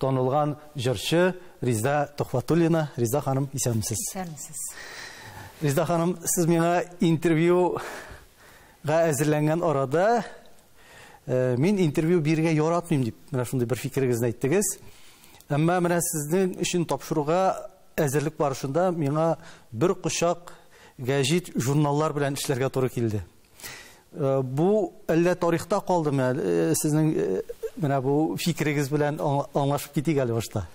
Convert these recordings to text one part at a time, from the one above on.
Танылган җырчы Риза Төхвәтуллина. Риза ханым, исәнмесез. Исәнмесез. Риза ханым, сез миңа интервьюга әзерләнгән арада э, мин интервью бирергә яратмыйм дип, менә шундый бер фикерегезне әйттегез. Әмма менә сезнең өчен тапшыруга әзерлек барышында миңа бер кочак гәҗит журналлар белән эшләргә туры килде. Э, бу әллә тарихта калдымы ә, э, сезнең э, менә бу фикерегез белән аңлашып китик әле башта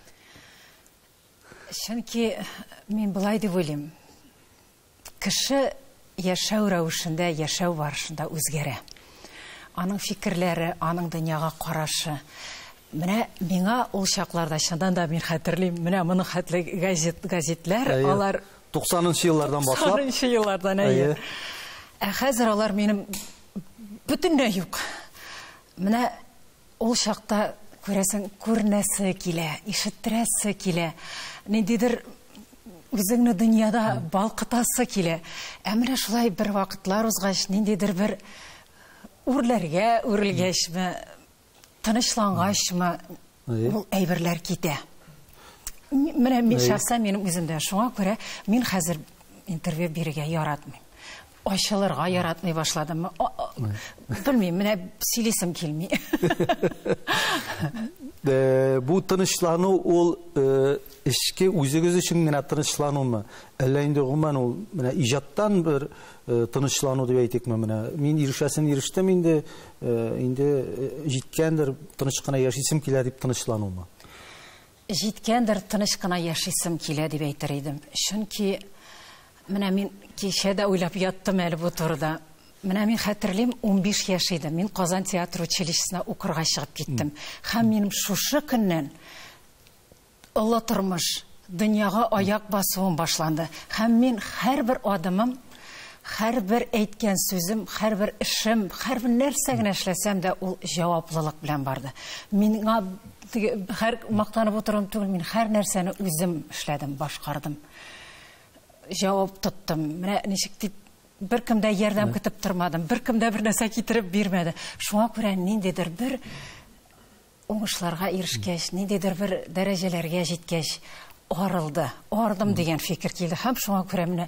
чөнки мин былай дип уйлыйм кеше яшәү рәвешендә яшәү барышында үзгәрә аның фикерләре аның дөньяга карашы менә миңа ул чакларда чыннан да мин хәтерлим менә моның хәтле газет газетләр алар 90нчы еллардан башлап. 90нчы еллардан, әйе. Ә хәзер алар минем бөтенләй юк. Менә ул чакта күрәсең, күрнәсе килә, ишеттерәсе килә. Ниндидер үзеңне дөньяда балкытасы килә. Ә менә шулай бер вакытлар узгач, ниндидер бер үрләргә үрелгәчме, Тынычлангачмы ул әйберләр китә. Менә мин шәхсән минем үземдә шуңа күрә мин хәзер интервью бирергә яратмыйм. Ачылырга яратмый башладым. Белмим, менә сөйлисем килми. Э, бу тынычлану ул э, эшке үзегез өчен генә тынычланумы? Әллә инде гомумән ул менә иҗаттан бер э, тынычлану дип әйтикме менә? Мин ирешәсен ирештем инде, Инде җиткәндер, тыныч кына яшисем килә дип тынычланума? Җиткәндер, тыныч кына яшисем килә дип әйтер идем. Чөнки менә мин кичә дә уйлап яттым әле бу турыда. Менә мин хәтерлим, 15 яшь идем. Мин Казан театр училищесына укырга чыгып киттем. Һәм минем шушы көннән Олы тормыш, дөньяга аяк басуым башланды. Һәм мин һәрбер адымым, һәрбер әйткән сүзем, һәрбер эшем, һәрбер нәрсә генә эшләсәм дә, ул җаваплылык белән барды. Миңа теге һәр мактанып утыруым түгел, мин һәр нәрсәне үзем эшләдем, башкардым. Җавап тоттым. Менә ничек дип беркем дә ярдәм көтеп тормадым. Беркем дә бер нәрсә китереп бирмәде. Шуңа күрә ниндидер бер Уңышларга ирешкәч, ниндидер бер дәрәҗәләргә җиткәч, арылды, ардым дигән фикер килде һәм шуңа күрә менә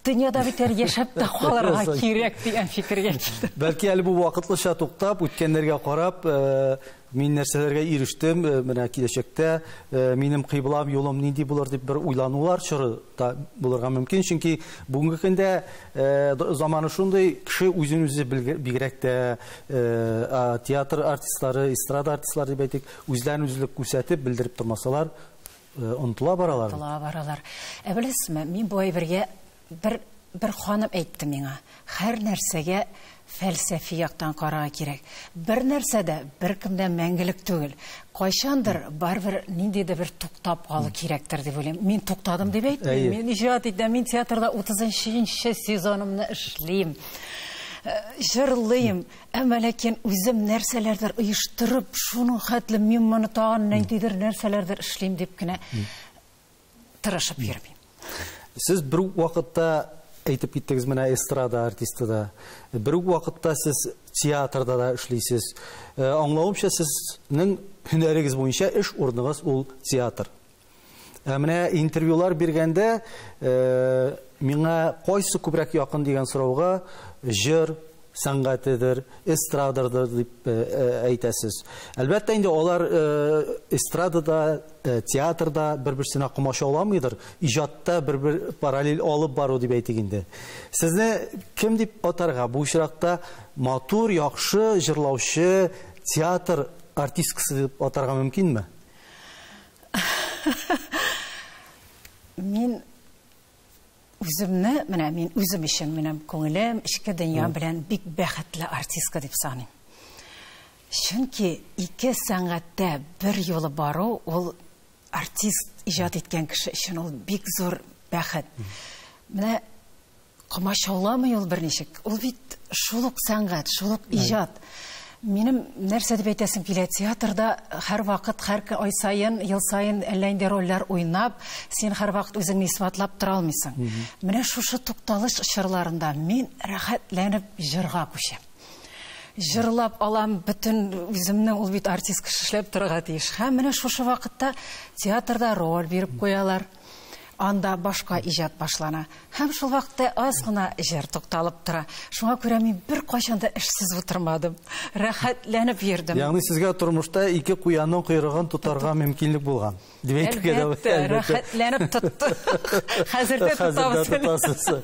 дөньяда бит әле яшәп тә калырга кирәк дигән фикергә килдем. Бәлки әле бу вакытлыча туктап, үткәннәргә карап, э, мин нәрсәләргә ирештем, э, менә киләчәктә э, минем кыйблам, юлым нинди булыр дип бер уйланулар чоры да булырга мөмкин, чөнки бүгенге көндә заманы шундый, кеше үзен үзе бигрәк тә театр артистлары, эстрада артистлары дип әйтик, үзләрен үзлек күрсәтеп, белдереп тормасалар, онтыла баралар. Онтыла баралар. Ә беләсезме, мин бу әйбергә бер бер ханым әйтте миңа, һәр нәрсәгә фәлсәфи яктан карага кирәк. Бер нәрсә дә беркемдә мәңгелек түгел. Кайчандыр барбер нинди дә бер туктап калу кирәктер дип уйлыйм. Мин туктадым дип әйтмим. Мин иҗат итәм, мин театрда 30 нчы сезонымны эшлим. җырлыйм, әмма ләкин үзем нәрсәләрдер оештырып, шуның хәтле мин моны тагын нәндидер нәрсәләрдер эшлим дип кенә тырышып йөрмим. Сез бер үк вакытта әйтеп киттегез менә эстрада артисты да. Бер үк вакытта сез театрда да эшлисез. Э, аңлавымча, сезнең һөнәрегез буенча эш урыныгыз ул театр. Ә менә интервьюлар биргәндә миңа кайсы күбрәк якын дигән сорауга җыр сәнгатедер, эстрададыр дип әйтәсез. Әлбәттә инде алар эстрадада, театрда бер-берсенә комачауламыйдыр, иҗатта бер-бер параллель алып бару дип әйтик инде. Сезне кем дип атарга? Бу очракта матур, яхшы җырлаучы, театр артисткасы дип атарга мөмкинме? Мин үземне, менә мин үзем өчен минем күңелем, эчке дөнья белән бик бәхетле артистка дип саныйм. Чөнки ике сәнгатьтә бер юлы бару ул артист иҗат иткән кеше өчен ул бик зур бәхет. Менә Комачауламый ул берничек. Ул бит шул ук сәнгать, шул ук иҗат. Минем нәрсә дип әйтәсем килә, театрда һәрвакыт, һәр ай саен, ел саен әллә нинди рольләр уйнап, син һәрвакыт үзеңне исбатлап тора алмыйсың. Менә шушы тукталыш чорларында мин рәхәтләнеп җырга күчәм. Җырлап алам, бөтен үземне, ул бит артист кеше эшләп торырга тиеш. Һәм менә шушы вакытта театрда роль биреп куялар. Анда башка иҗат башлана. Һәм шул вакытта аз гына җыр тукталып тора. Шуңа күрә мин бер кайчан да эшсез утырмадым. Рәхәтләнеп йөрдем. Ягъни сезгә тормышта ике куянның койрыгын тотарга мөмкинлек булган. Дип әйтергә дә була. Әлбәттә, рәхәтләнеп тотты. Хәзер дә тотабыз. Хәзер дә тотасыз.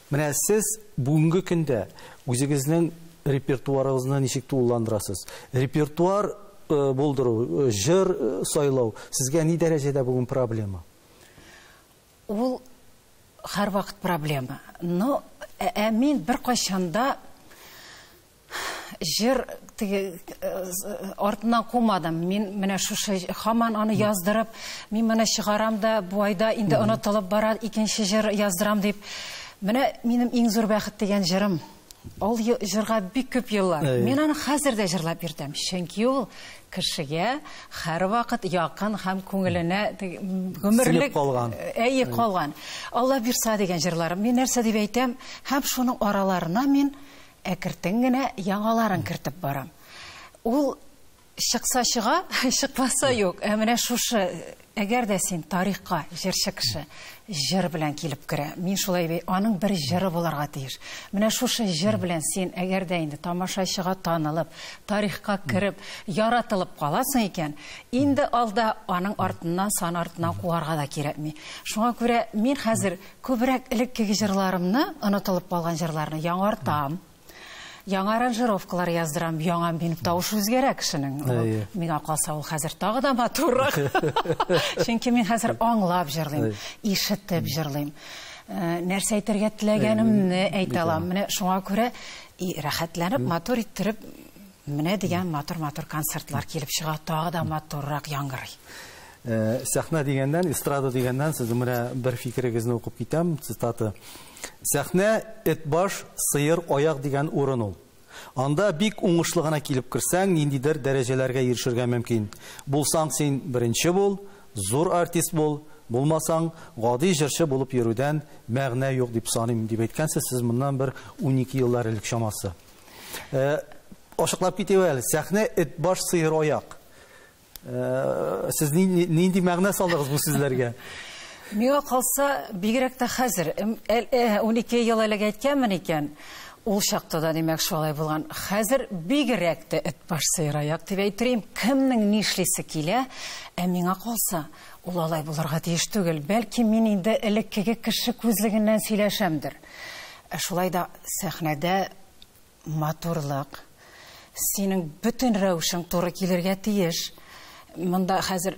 Менә сез бүгенге көндә үзегезнең репертуарыгызны ничек тулыландырасыз? Репертуар булдыру, җыр сайлау сезгә ни дәрәҗәдә бүген проблема? Ул һәрвакыт проблема. Но, ә мин беркайчан да Җыр теге артыннан кумадым. Мин менә шушы хаман аны яздырып, мин моны чыгарам да, бу айда инде онытылып бара, икенче җыр яздырам дип. Менә минем иң зур бәхет дигән җырым. Ул җырга бик күп еллар. Мин аны хәзер дә җырлап йөртәм. Чөнки ул кешегә һәрвакыт якын һәм күңеленә гомерлек калган. Әйе, калган. Алла бирса дигән җырларым. Мин нәрсә дип әйтәм, һәм шуның араларына мин Әкертен генә яңаларын кертеп барам. Ул чыкса чыга, чыкмаса юк. Ә менә шушы Әгәр дә син тарихка җырчы кеше җыр белән килеп керә, мин шулай бей, аның бер җыры булырга тиеш. Менә шушы җыр белән син әгәр дә инде тамашачыга танылып, тарихка кереп, яратылып каласың икән, инде алда аның артыннан, сан артыннан куарга да кирәкми. Шуңа күрә мин хәзер Күбрәк элеккеге җырларымны, онытылып калган җырларны яңартам. Яңа аранжировкалар яздырам, яңа мин тавыш үзгәрә кешенең. Миңа калса ул хәзер тагы да матуррак. Чөнки мин хәзер аңлап җырлыйм, ишетеп җырлыйм. Э, нәрсә әйтергә теләгәнемне әйтә алам. Менә шуңа күрә и рәхәтләнеп, матур иттереп Менә дигән матур-матур концертлар килеп чыга, тагы да матуррак яңгырый. Э, сәхнә дигәндән, эстрада дигәндән сез менә бер фикерегезне укып китәм, цитата. Сәхнә эт баш, сыер аяк дигән урын ул. Анда бик уңышлы гына килеп керсәң, ниндидер дәрәҗәләргә ирешергә мөмкин. Булсаң син беренче бул, зур артист бул, булмасаң, гади җырчы булып йөрүдән мәгънә юк дип саныйм, дип әйткәнсез сез моннан бер 12 еллар элек чамасы. Ашыклап китеп әле, сәхнә эт баш сыер аяк. Сез нинди мәгънә салдыгыз бу сүзләргә? Миңа калса, бигрәк тә хәзер, 12 ел элек әйткәнмен икән, ул чакта да димәк шулай булган. Хәзер бигрәк тә эт баш сыер аяк дип әйтрием. Кемнең нишлисе килә, ә миңа калса, ул алай булырга тиеш түгел. Бәлки мин инде элеккеге кеше күзлегеннән сөйләшәмдер. Ә шулай да сәхнәдә матурлык, синең бөтен рәвешең туры килергә тиеш. Монда хәзер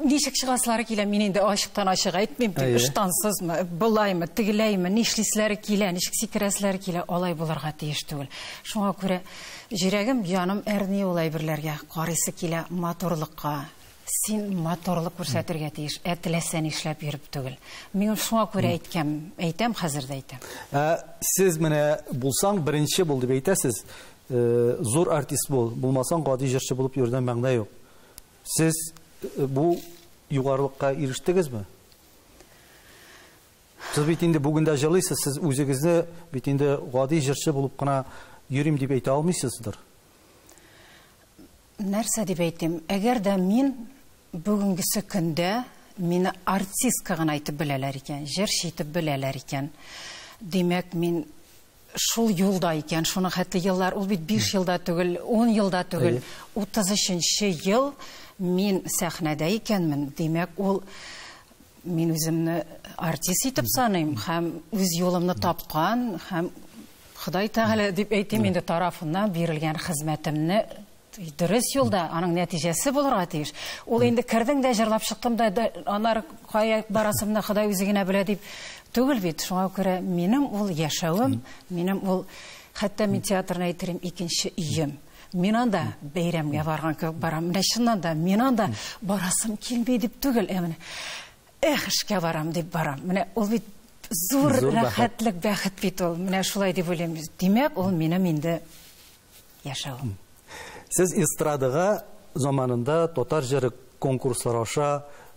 ничек чыгасылары килә, мин инде ачыктан ачык әйтмим, дип, ыштансызмы, былаймы, тегеләйме, нишлисләре килә, ничек сикерәселәре килә, алай булырга тиеш түгел. Шуңа күрә җөрәгем, җаным әрни ул әйберләргә, карыйсы килә матурлыкка. Син матурлык күрсәтергә тиеш, ә теләсә нишләп йөреп түгел. Мин шуңа күрә әйткәм, әйтәм, хәзер дә әйтәм. Ә сез менә булсаң, беренче бул дип әйтәсез. Э, зур артист бул, булмасаң гади җырчы булып йөрүдән мәгънә юк. Сез э, бу югарылыкка ирештегезме? Сез бит инде бүген дә җырлыйсыз, сез үзегезне бит инде гади җырчы булып кына йөрим дип әйтә алмыйсыздыр. Нәрсә дип әйтим, әгәр дә мин бүгенгесе көндә мине артистка гына итеп беләләр икән, җырчы итеп беләләр икән, димәк, мин шул юлда икән, шуның хәтле еллар, ул бит биш ел да түгел, ун ел да түгел, 33 нче ел мин сәхнәдә икәнмен, димәк, ул мин үземне артист итеп саныйм һәм үз юлымны тапкан һәм Ходай Тәгалә дип әйтим инде тарафыннан бирелгән хезмәтемне дөрес юлда, аның нәтиҗәсе булырга тиеш. Ул инде кердең дә җырлап чыктым да, анар кая барасымны Ходай үзе генә белә дип түгел бит. Шуңа күрә минем ул яшәвем, минем ул хәтта мин театрны әйтерем икенче өем. Мин анда бәйрәмгә барган кебек барам. Менә чыннан да мин анда барасым килми дип түгел, ә менә Эх, эшкә барам, дип барам. Менә ул бит зур, зур рәхәтлек, бәхет бит ул. Менә шулай дип уйлыйм. Димәк, ул минем инде яшәү. Сез эстрадага заманында татар җыры конкурслар аша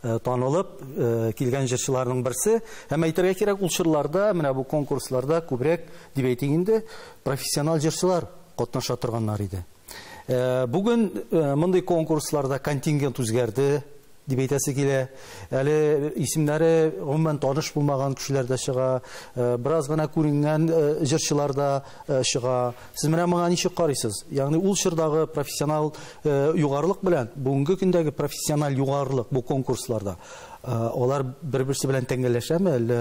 э, танылып э, килгән җырчыларның берсе. Һәм әйтергә кирәк, ул чырларда, менә бу конкурсларда күбрәк, дип әйтик инде, профессионал җырчылар катнаша торганнар иде. Э, бүген мондый конкурсларда контингент үзгәрде, Дип әйтәсе килә. Әле исемнәре гомумән таныш булмаган кешеләр дә чыга, бераз гына күренгән җырчылар да чыга. Сез менә моңа ничек карыйсыз? Ягъни ул чордагы профессиональ югарылык белән бүгенге көндәге профессиональ югарылык бу конкурсларда, алар бер-берсе белән тәңгәлләшәме, әллә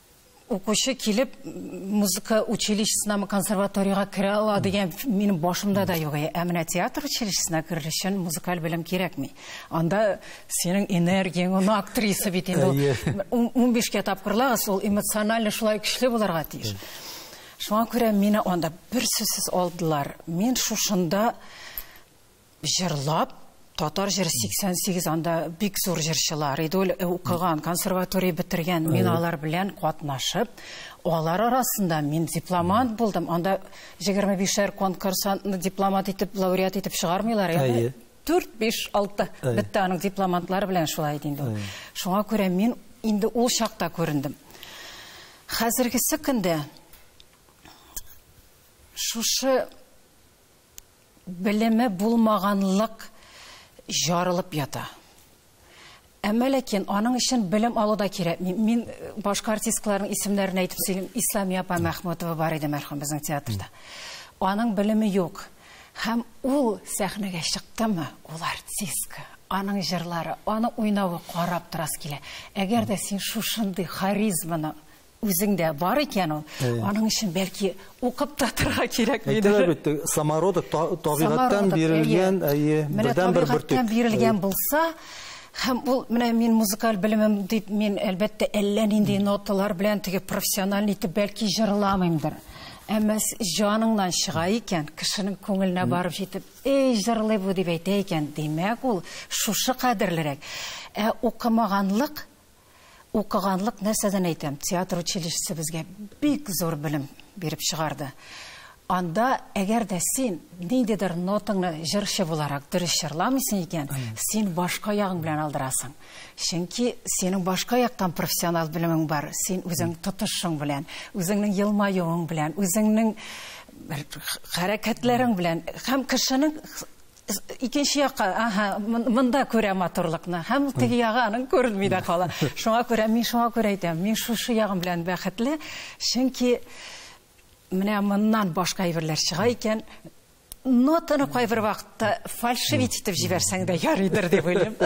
укучы килеп музыка училищесынамы консерваториягә керә ала дигән минем башымда да юк ә менә театр училищесына керер өчен музыкаль белем кирәкми анда синең энергияң аны актриса бит инде ун бишкә тапкырлагыз ул эмоционально шулай көчле булырга тиеш шуңа күрә мине анда бер сүзсез алдылар мин шушында җырлап, татар җыры 88, анда бик зур җырчылар иде ул, э, укыган, консерватория бетергән, мин алар белән катнашып, алар арасында мин дипломант булдым, анда 25-шәр конкурсантны дипломат итеп, лауреат итеп чыгармыйлар, әйе. 4, 5, 6 бетте аның дипломантлары белән шулай иде инде. Шуңа күрә мин инде ул чакта күрендем. Хәзергесе көндә шушы Белеме булмаганлык җарылып ята. Әмма ләкин аның өчен белем алу да кирәк. Мин башка артисткаларның исемнәрен әйтеп сөйлим. Исламия апа Мәхмүтова бар иде мәрхүм безнең театрда. Аның белеме юк. Һәм ул сәхнәгә чыктымы, ул артистка, аның җырлары, аның уйнавы карап торасы килә. Әгәр дә син шушындый харизманы Үзеңдә бар икән ул. Аның өчен бәлки укып татырга кирәк мидер? Әйтәләр бит, самородок табигатьтән бирелгән, әйе, бердән бер бөртек. бирелгән булса, һәм ул менә мин музыкаль белемем дип, мин әлбәттә әллә нинди ноталар белән теге профессиональ итеп бәлки җырламыймдыр. Әмма җаныңнан чыга икән, кешенең күңеленә барып җитеп, "Эй, җырлый бу" дип әйтә икән, димәк, ул шушы кадерлерәк. Ә укымаганлык Укыганлык, нәрсәдән әйтәм, театр училищесы безгә бик зур белем биреп чыгарды. Анда, әгәр дә син ниндидер нотаңны җырчы буларак дөрес җырламыйсың икән, син башка ягың белән алдырасың. Чөнки синең башка яктан профессионал белемең бар. Син үзең тотышың белән, үзеңнең елмаюың белән, үзеңнең хәрәкәтләрең белән һәм кешенең Икенче якка, аһа, монда күрә матурлыкны. Һәм ул теге ягы аның күренми дә кала. Шуңа күрә мин шуңа күрә әйтәм, мин шушы ягым белән бәхетле, чөнки менә моннан башка әйберләр чыга икән, нотаны кайбер вакытта фальшивить итеп җибәрсәң дә ярыйдыр дип уйлыйм.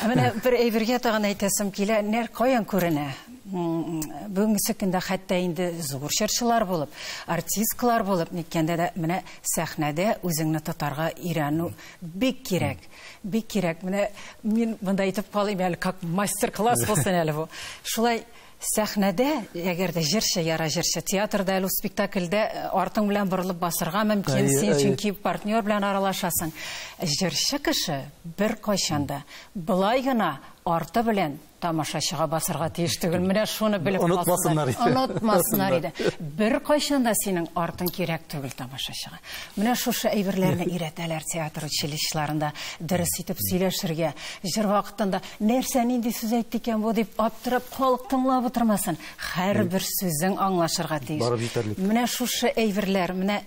Менә бер әйбергә тагын әйтәсем килә, нәр каян күренә? Бүгенге көндә хәтта инде зур чырчылар булып, артисткалар булып ниткәндә дә менә сәхнәдә үзеңне тотарга өйрәнү бик кирәк. Бик кирәк. Менә мин монда әйтеп калыйм әле, как мастер-класс булсын әле бу. Шулай сәхнәдә, әгәр дә җырчы яра җырчы, театрда әле спектакльдә э, артың белән борылып басырга мөмкин, син чөнки партнер белән аралашасың. Җырчы кеше бер кайчанда былай гына арты белән Тамашачыга басырга тиеш түгел. Менә шуны белеп калсыннар. Онытмасыннар иде. Онытмасыннар иде. Беркайчан да синең артың кирәк түгел тамашачыга. Менә шушы әйберләрне өйрәтәләр театр училищеларында. Дөрес итеп сөйләшергә, җыр вакытында нәрсә, нинди сүз әйтте икән бу дип аптырап, халык тыңлап утырмасын. Һәрбер сүзең аңлашырга тиеш. Барып җитәрлек. Менә шушы әйберләр, менә,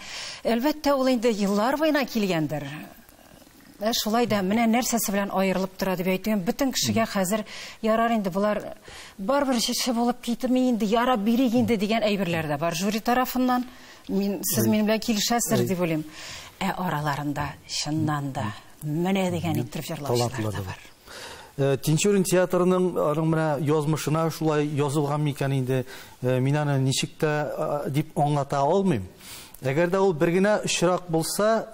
әлбәттә, ул инде еллар буена килгәндер. Ә э, шулай да менә нәрсәсе белән аерылып тора дип әйтүем, бөтен кешегә хәзер ярар инде болар барыбер җырчы булып китми инде, ярап бирик инде дигән әйберләр дә бар жюри тарафыннан. Мин сез минем белән килешәсез дип уйлыйм. Ә араларында чыннан да менә дигән итеп җырлаучылар да бар. Э, Тинчурин театрының аның менә язмышына шулай язылган микән инде, э, мин аны ничек тә дип аңлата алмыйм. Әгәр дә ул бер генә очрак булса,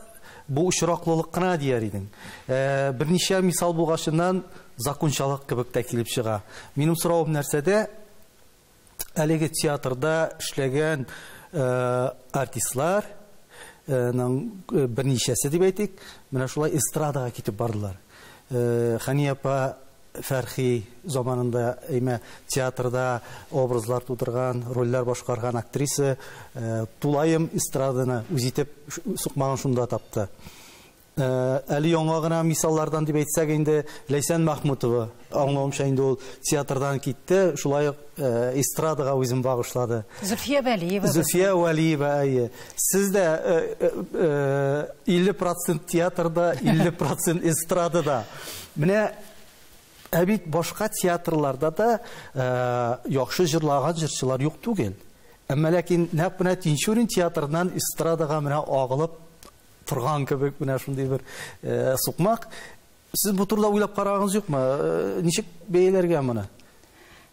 бу очраклылык кына дияр идең. Ә берничә мисал булгачыннан закончалык кебек тә килеп чыга. Минем соравым нәрсәдә, әлеге театрда эшләгән артистлар ның берничәсе дип әйтик, менә шулай эстрадага китеп бардылар. Хәния апа Фәрхи заманында имә театрда образлар тудырган, рольләр башкарган актриса тулаем эстраданы үз итеп сукмагын шунда тапты. Әле яңа гына мисаллардан дип әйтсәк инде, Ләйсән Мәхмүтова. Аңлавымча инде ул театрдан китте, шулай ук Э, эстрадага үзен багышлады. Зөфия Вәлиева. Зөфия Вәлиева, әйе. Сез дә 50% э, э, театрда, 50% эстрадада. Менә ә бит башка театрларда да яхшы җырлаган җырчылар юк түгел. Әмма ләкин нәкъ менә Тинчурин театрыннан эстрадага менә агылып торган кебек менә шундый бер сукмак Сез бу турыда уйлап караганыгыз юкмы? Ничек бәяләргә моны?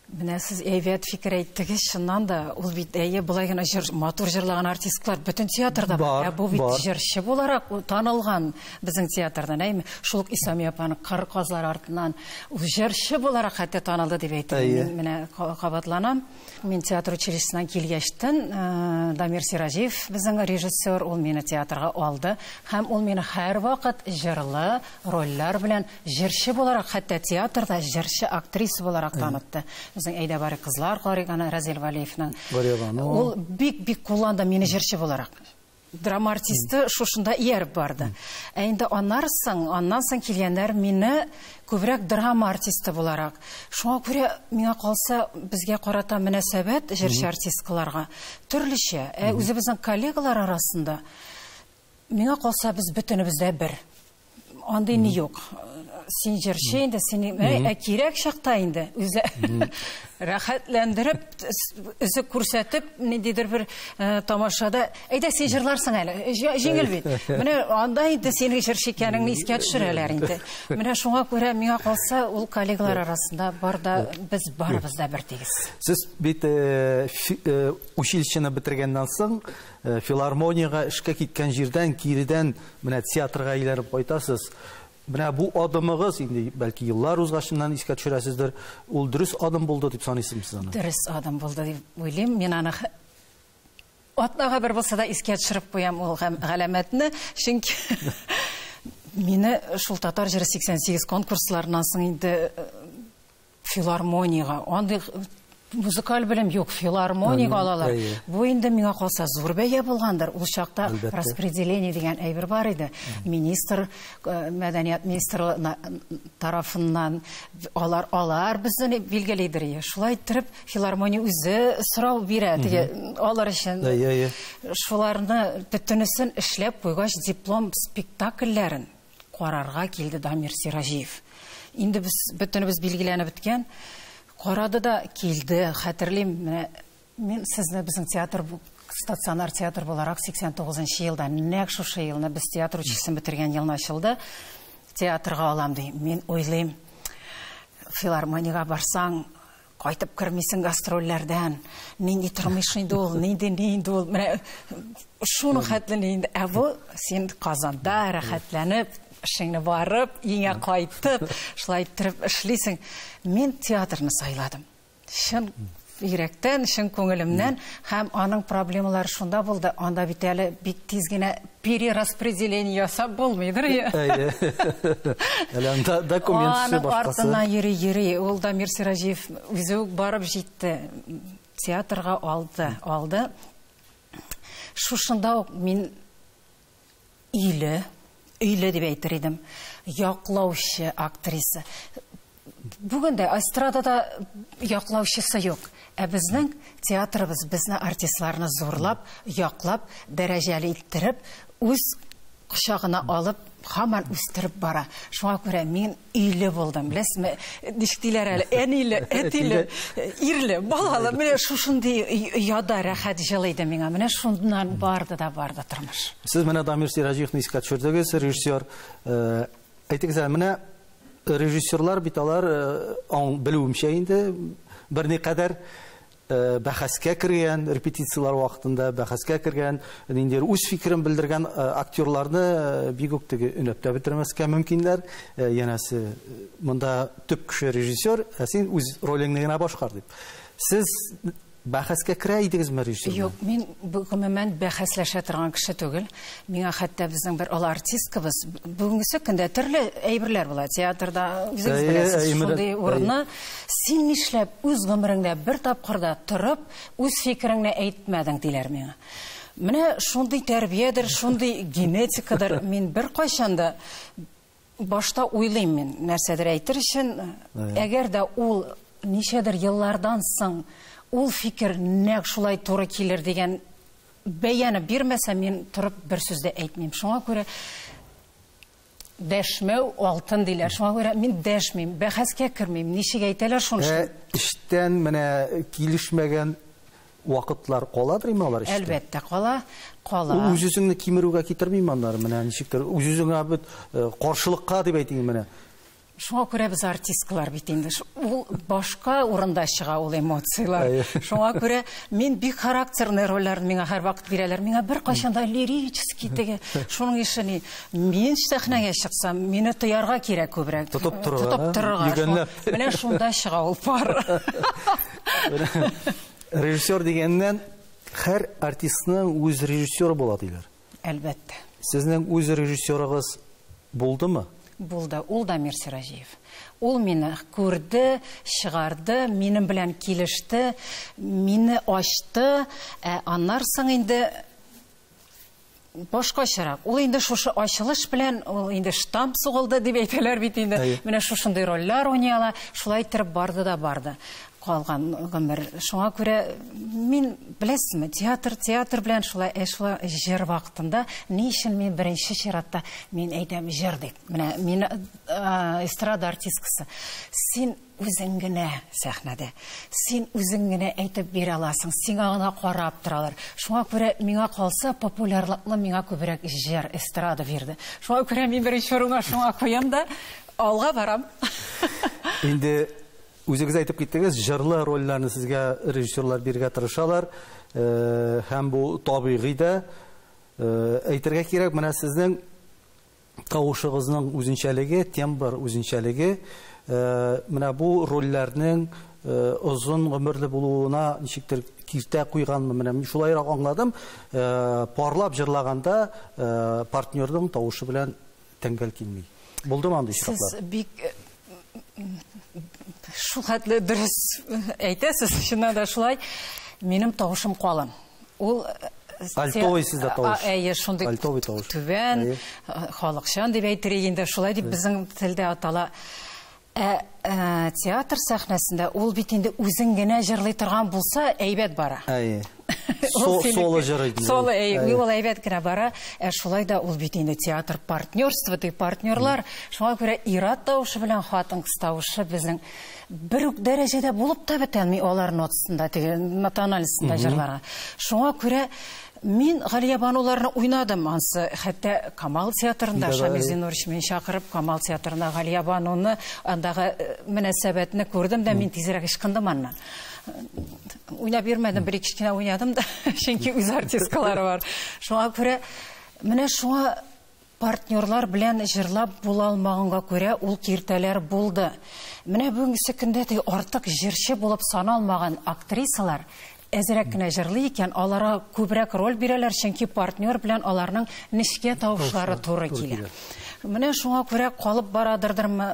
Менә сез әйбәт фикер әйттегез, чыннан да, ул бит әйе, былай гына җыр, матур җырлаган артистлар бөтен театрда бар. Ә бу бит җырчы буларак танылган безнең театрдан, әйме? Шул ук Исами апаның Кыр казлар артыннан ул җырчы буларак хәтта танылды дип әйтте. Мин менә кабатланам. Мин театр училищесына килгәчтен, Дамир Сираҗиев безнең режиссер, ул мине театрга алды һәм ул мине һәрвакыт җырлы рольләр белән җырчы буларак, хәтта театрда җырчы актриса буларак танытты. Безнең Әйдә барик кызлар карыйк, аны Разил Вәлиевның. Ул бик-бик кулланды мине җырчы буларак. Драма артисты шушында ияреп барды. Ә инде аннар соң, аннан соң килгәннәр мине күбрәк драма артисты буларак. Шуңа күрә миңа калса, безгә карата мөнәсәбәт җырчы артисткаларга төрлечә. Ә үзебезнең коллегалар арасында миңа калса, без бөтенебез дә бер. Андый ни юк. Син җырчы инде, син ә кирәк чакта инде үзе рәхәтләндереп, үзе күрсәтеп, ниндидер бер э, тамашада, әйдә син җырларсың әле, җиңел бит. Менә анда инде синең җырчы икәнеңне искә төшерәләр инде. Менә шуңа күрә миңа калса, ул коллегалар арасында бар да без барыбыз да бер тигез. Сез бит э, э, училищены бетергәннән соң Филармониягә эшкә киткән җирдән киредән менә театрга әйләнеп кайтасыз. Менә бу адымыгыз, инде бәлки еллар узгачыннан искә төшерәсездер, ул дөрес адым булды дип саныйсызмы сез аны? Дөрес адым булды дип уйлыйм. Мин аны атнага бер булса да искә төшереп куям ул галәмәтне, чөнки мине шул татар җыры 88 конкурсларыннан соң инде Филармониягә. Андый музыкаль белем юк, филармоник алалар. Бу инде миңа калса зур бәя булгандыр. Ул чакта распределение дигән әйбер бар иде. Министр, э, мәдәният министры тарафыннан алар алар безне билгелидер ие. Шулай иттереп филармония үзе сорау бирә теге алар өчен. Шуларны бөтенесен эшләп куйгач диплом спектакльләрен карарга килде Дамир Сираҗиев. Инде без бөтенебез билгеләнеп беткән. Карады да килде, хәтерлим, менә мин сезне безнең театр стационар театр буларак 89 нчы елда нәкъ шушы елны без театр училищесын бетергән елны ачылды. Театрга алам ди. Мин уйлыйм, филармониягә барсаң, Кайтып кермисең гастрольләрдән. Нинди тормыш инде ул, нинди, ни инде ул. Менә шуның хәтле ни инде. Ә бу син Казанда рәхәтләнеп, эшеңне барып, өеңә кайтып, шулай иттереп эшлисең. Мин театрны сайладым. Чын йөрәктән, чын күңелемнән һәм аның проблемалары шунда булды. Анда бит әле бик тиз генә Перераспределение ясап булмыйдыр. Әйе. Әле анда документ эше башкасы. Аның артына йөри-йөри, ул Дамир Сираҗиев үзе үк барып җитте. Театрга алды, алды. Шушында ук мин өйле, өйле дип әйтер идем, яклаучы актриса. Бүген дә эстрадада яклаучысы юк. Ә безнең театрыбыз безне артистларны зурлап, яклап, дәрәҗәле иттереп, үз кочагына алып, хаман үстереп бара. Шуңа күрә мин өйле булдым. Беләсезме, ничек диләр әле, әниле, әтиле, ирле, балалы. Менә шушындый яда рәхәт җылы иде миңа. Менә шуннан барды да барды тормыш. Сез менә Дамир Сираҗиевны искә төшердегез, режиссер. Э, Әйтегез әле, менә режиссерлар бит алар, аң, белүемчә инде, берникадәр бәхәскә кергән, репетицияләр вакытында бәхәскә кергән, нинди үз фикерен белдергән актерларны бик үк теге өнәп тә бетермәскә мөмкиннәр. Янәсе, монда төп кеше режиссер, ә син үз ролеңне генә башкар дип. Сез Бәхәскә керә идегезме режиссер белән? Юк, мин гомумән бәхәсләшә торган кеше түгел. Миңа хәтта безнең бер олы артисткабыз бүгенге көндә төрле әйберләр була театрда, үзегез беләсез, шундый урынны син нишләп үз гомереңдә бер тапкырда торып, үз фикереңне әйтмәдең, диләр миңа. Менә шундый тәрбиядер, шундый генетикадыр, мин беркайчан да Башта уйлыйм мин, нәрсәдер әйтер өчен, әгәр дә ул ничәдер еллардан соң ул фикер нәкъ шулай туры килер дигән бәяне бирмәсә, мин торып бер сүз дә әйтмим. Шуңа күрә дәшмәү алтын диләр. Шуңа күрә мин дәшмим, бәхәскә кермим. Ничек әйтәләр шуны? Ә эштән менә килешмәгән Вакытлар каладыр инде алар эчтә. Әлбәттә, кала, кала. Ул үз-үзеңне кимерүгә китермиме аннары, менә ничектер, үз-үзеңә бит э, каршылыкка дип әйтим менә. Шуңа күрә без артисткалар бит инде. Ул башка урында чыга ул эмоцияләр. Шуңа күрә мин бик характерный рольләрне миңа һәрвакыт бирәләр. Миңа бер кайчанда лирический теге. Шуның ише ни. Мин сәхнәгә чыксам, мине тоярга кирәк күбрәк. Тотып торырга. Тотып торырга. Менә шунда чыга ул пар. Режиссер дигәннән һәр артистның үз режиссеры була диләр. Әлбәттә. Сезнең үз режиссерыгыз булдымы? Булды. Ул да Мир Сираҗиев. Ул мине күрде, чыгарды, минем белән килеште, мине ачты. Ә аннар соң инде башкачарак. Ул инде шушы ачылыш белән ул инде штамп сугылды дип әйтәләр бит инде. Менә шушындый рольләр уйный ала. Шулай иттереп барды да барды калган гомер. Шуңа күрә мин беләсезме, театр, театр белән шулай эшлә җыр вакытында ни өчен мин беренче чиратта мин әйтәм җыр дип. Менә мин эстрада артисткасы. Син Үзең генә сәхнәдә. Син үзең генә әйтеп бирә аласың, сиңа гына карап торалар. Шуңа күрә, миңа калса, популярлыкны миңа күбрәк җыр, эстрада бирде. Шуңа күрә мин беренче урынга шуңа куям да, алга барам. Инде үзегез әйтеп киттегез, җырлы рольләрне сезгә режиссерлар бирергә тырышалар. Һәм бу табигый да. Әйтергә кирәк, менә сезнең тавышыгызның үзенчәлеге, тембр үзенчәлеге менә бу рольләрнең озын гомерле булуына ничектер киртә куйганмы, менә мин шулайрак аңладым. Парлап җырлаганда партнерның тавышы белән тәңгәл килми. Булдымы андый очраклар? Сез бик Шул хәтле дөрес әйтәсез, чыннан да шулай. Минем тавышым калын. Ул Альтовый сездә тавыш. Әйе, шундый альтовый тавыш. Түбән, халыкчан дип әйтергә инде шулай дип безнең телдә атала. Ә, ә театр сәхнәсендә ул бит инде үзен генә җырлый торган булса, әйбәт бара. Әйе. соло җырый ди. Соло, әй, ул әйбәт кенә бара. Ә шулай да ул бит инде театр партнерство ди, партнерлар. Шуңа күрә ир-ат тавышы белән хатын-кыз тавышы безнең бер үк дәрәҗәдә булып та бетәлми алар нотасында, теге нотаналисында җырларга. Шуңа күрә Мин Галия бануларны уйнадым ансы, хәтта Камал театрында Шамил Зинурович мин чакырып Камал театрына Галия бануны андагы э, мөнәсәбәтне күрдем дә мин тизрәк ычкындым аннан. Уйнап йөрмәдем, бер ике кенә уйнадым да, чөнки үз артисткалары бар. Шуңа күрә менә шуңа партнерлар белән җырлап була алмаганга күрә ул киртәләр булды. Менә бүгенге көндә дә артык җырчы булып саналмаган актрисалар әзрәк кенә җырлый икән, аларга күбрәк роль бирәләр, чөнки партнер белән аларның нечкә тавышлары туры килә. Менә шуңа күрә калып барадырдырмы,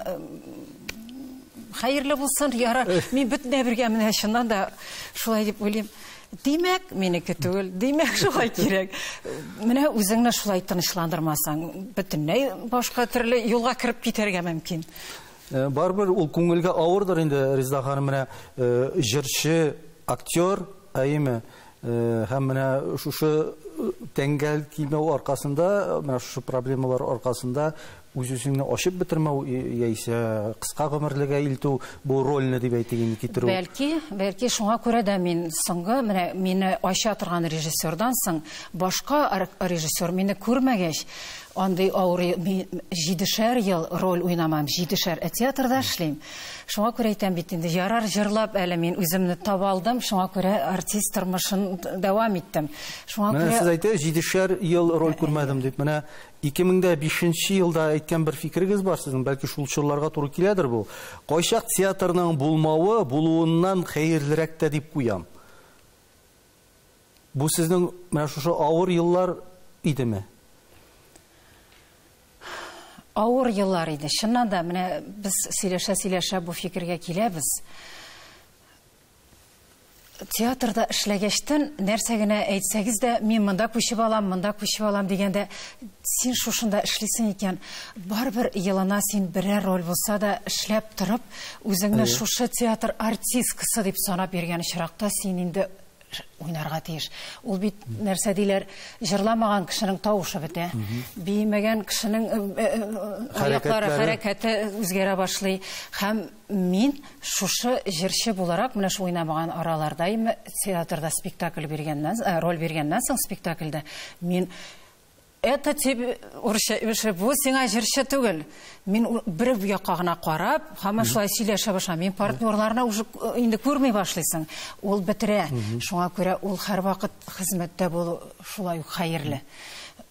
Хәерле булсын, яра. Мин бөтенләй бергә менә чыннан да шулай дип уйлыйм. Димәк, минеке түгел. Димәк, шулай кирәк. Менә үзеңне шулай тынычландырмасаң, бөтенләй башка төрле юлга кереп китәргә мөмкин. Э, барыбер ул күңелгә авырдыр инде, Ризда ханым, менә э, җырчы, актер, әйеме? Э, һәм менә шушы тәңгәл кимәү аркасында, менә шушы проблемалар аркасында Үз-үзеңне ачып бетермәү яисә кыска гомерлегә илтү, бу рольне дип әйтик инде китерү. Бәлки, бәлки шуңа күрә дә мин соңгы менә мине ача торган режиссердан соң башка режиссер мине күрмәгәч, андый авыр җидешәр ел роль уйнамам, җидешәр, ә театрда эшлим. Шуңа күрә әйтәм бит инде, ярар җырлап әле мин үземне таба алдым, шуңа күрә артист тормышын дәвам иттем. Шуңа күрә Менә сез әйтә, җидешәр ел роль күрмәдем дип. Менә Ике мең дә бишенче елда әйткән бер фикерегез бар сезнең, бәлки шул чорларга туры киләдер бу. Кайчак театрның булмавы булуыннан хәерлерәк тә дип куям. Бу сезнең менә шушы авыр еллар идеме? Авыр еллар иде. Чыннан да, менә без сөйләшә-сөйләшә бу фикергә киләбез. Театрда эшләгәчтен, нәрсә генә әйтсәгез дә, мин монда күчеп алам, монда күчеп алам дигәндә, син шушында эшлисең икән, барыбер елына син берәр роль булса да эшләп торып, үзеңне шушы театр артисткасы дип санап йөргән очракта, син инде уйнарга тиеш. Ул бит нәрсә диләр, җырламаган кешенең тавышы бетә. Биемәгән кешенең аяклары, хәрәкәте үзгәрә башлый. Һәм Мин шушы җырчы буларак менә шул уйнамаган араларда ме театрда спектакль биргәннән, э, роль биргәннән соң спектакльдә мин это тебе урысча эше бу сиңа җырчы түгел мин бер якка гына карап һаман шулай сөйләшә башладым мин партнерларны уже э, инде күрми башлыйсың ул бетерә шуңа күрә ул һәрвакыт хезмәттә булу шулай ук хәерле